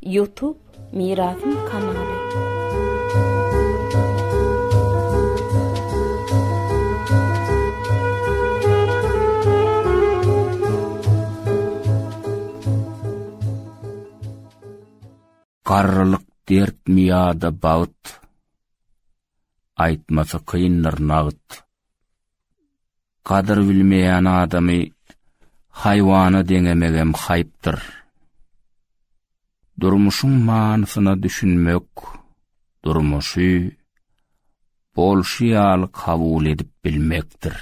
Youtube Mirasym kanaly. Garrylyk dertmi ýa-da bagt, Aýtmasy kyndyr nagt. Gadyr bilmeýän adamy haýwana deňemegem haýpdyr. Durmuşyň manysyna düşünmek, durmuşy bolşy ýaly kabul edip bilmekdir.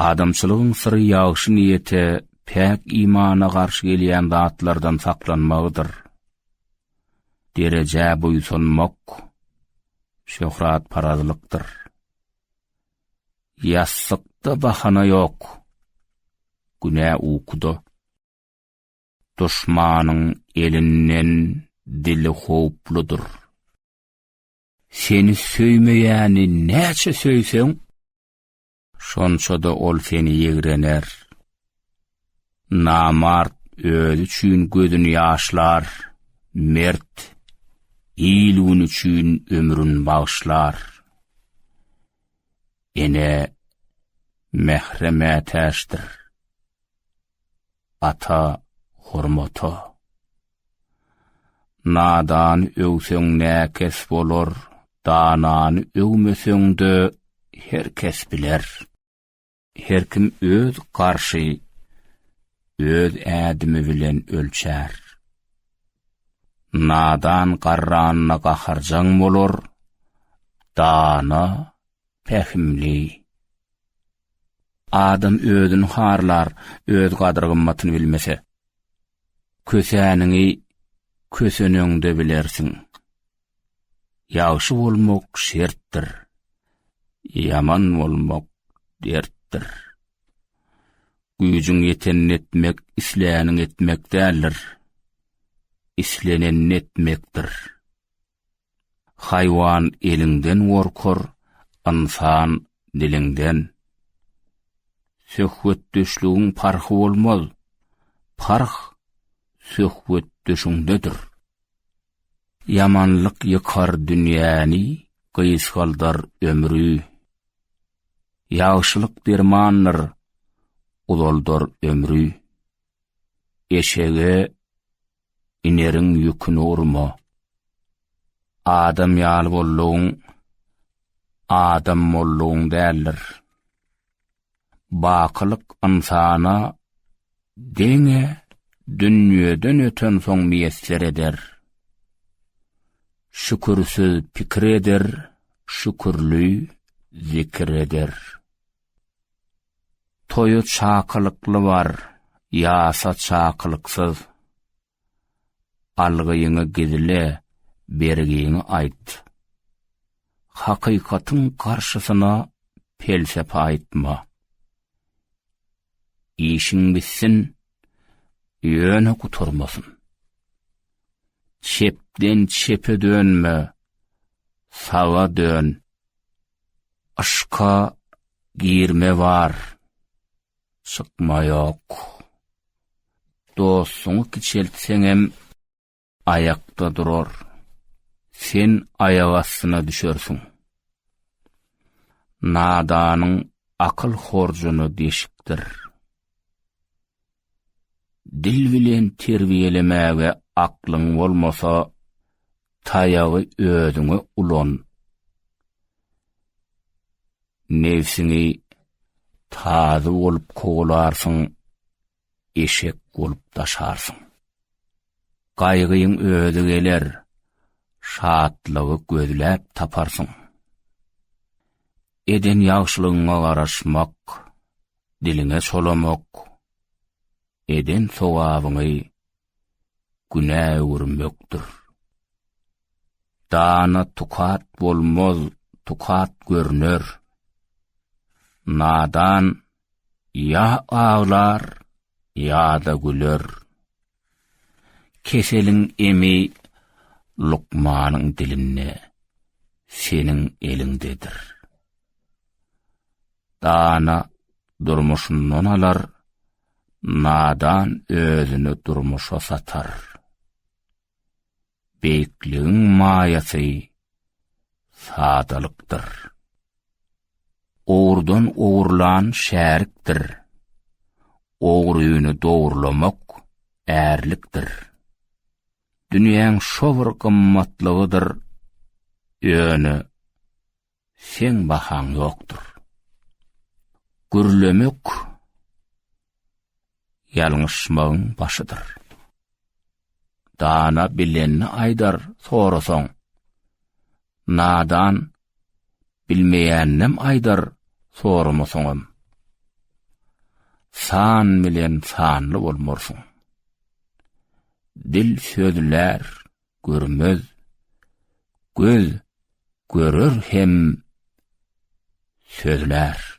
Adamçylygyň syry ýagşy niýete, päk imana garşy gelýän zatlardan saklanmagydyr. derejä buýsanmak şöhratparazlykdyr. Ýassykda bahana ýok, günä ukuda. Duşmanyň elinden dili howpludyr. Seni söýmeýäni näçe söýseň, Şonça-da ol seni ýigrener. Namart özi üçin gözüni ýaşlar, mert, il-gün üçin ömrüni bagyşlar. Ene mähre mätäçdir. ata hormata. Nadany öwseň näkes bolar, danany öwmeseň-de her kes biler. Her kim öz garşy, öz ädimi bilen ölçär. Nadan garranyna gaharjaň bolar, dana, pähimli, Adam özüni harlar, öz gadyr-gymmatyny bilmese. Kösäniňi köseneňde bilersiň. Ýagşy bolmak şertdir. Ýaman bolmak dertdir. Güýjüň ýetenini etmek, islänini etmek däldir. Islenenini etmekdir. Haýwan eliňden gorkar, ynsan, diliňden. Söhbetdeşligiň parhy bolmaz, parh söhbetdeşiňdedir. Ýamanlyk ýykar dünýäni, gysgaldar ömri. Ýagşylyk dermandyr, uzaldar ömri. Eşege. ineriň ýüküni urma. Adam ýaly bollugyň, adam bollugyň däldir. Bakylyk ynsana deňe dünýeden öten soň miýesser eder. Şükürsiz pikir eder, şükürli zikir eder. Toýa çakylykly bar, ýasa çakylyksyz. Algyňy gizle, bergiňi aýt. Hakykatyň garşysyna pelsepe aýtma. Işiň bitsin, ýöne gutarmasyn. Çepden çepe dönme, saga dön. Yşka girme bar, çykma ýok. Dostuňy kiçeltseňem aýakda durar. Sen aýak astyna düşersiň. Nadanyň akyl horjuny deşikdir. Dil bilen terbiýelemäge aklyň bolmasa, taýagy özüňe ulan. Nebsiňi tazy bolup kowalarsyň, eşek bolup daşarsyň. Gaýgyň özi geler, şatlygy gözläp taparsyň. Eden ýagşylygyňa garaşmak, diliňe çolamok, eden sogabyňy günä öwürmekdir. Dana tukat bolmaz, tukat görner. Nadan ya ağlar, ya da güler. Keseliň emi lukmanyň dilinde, seniň eliňdedir. Dana durmuşyndan alar, nadan özüni durmuşa satar. beýikligiň maýasy sadalykdyr. Ogurdan ogurlan şärikdir. Ogryny dogurlamak ärlikdir. Dünýäň şo bir gymmatlygydyr. Ýöne seň bahaň ýokdur. Gürlemek ýalňyşmagyň başydyr. Dana bilenini aýdar sorasaň, nadan bilmeýäninem aýdar soramasaňam. San bilen sanly bolmarsyň. Dil sözlär, görmez. Göz görer hem sözlär.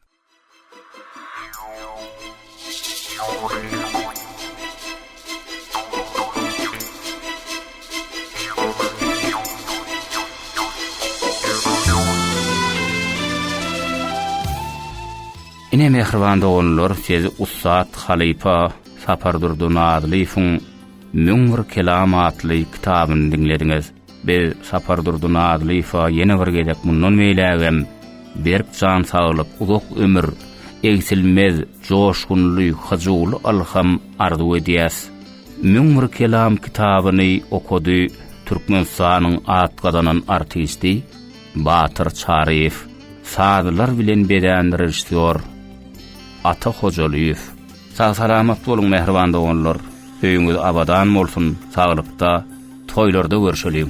Ine mähriban doganlar, siz ussat halypa Sapardurdy Nazylyýewiň Müň bir kelam atly kitabyny diňlediňiz. Biz Sapardurdy Nazylyýewe ýene bir gezek mundan beýlägem berk jan saglyk, uzak ömür, egsilmez, joşgunly, hyjuwly ylham arzuw edýäs. Müň bir kelam kitabyny okady Türkmenistanyň at gazanan artisti Batyr Çaryýew, sazlar bilen bezän režissýor Ata Hojalyýew. Sag salamat boluň mähriban doganlar öýüňiz abadan bolsun saglykda toýlarda görşeliň.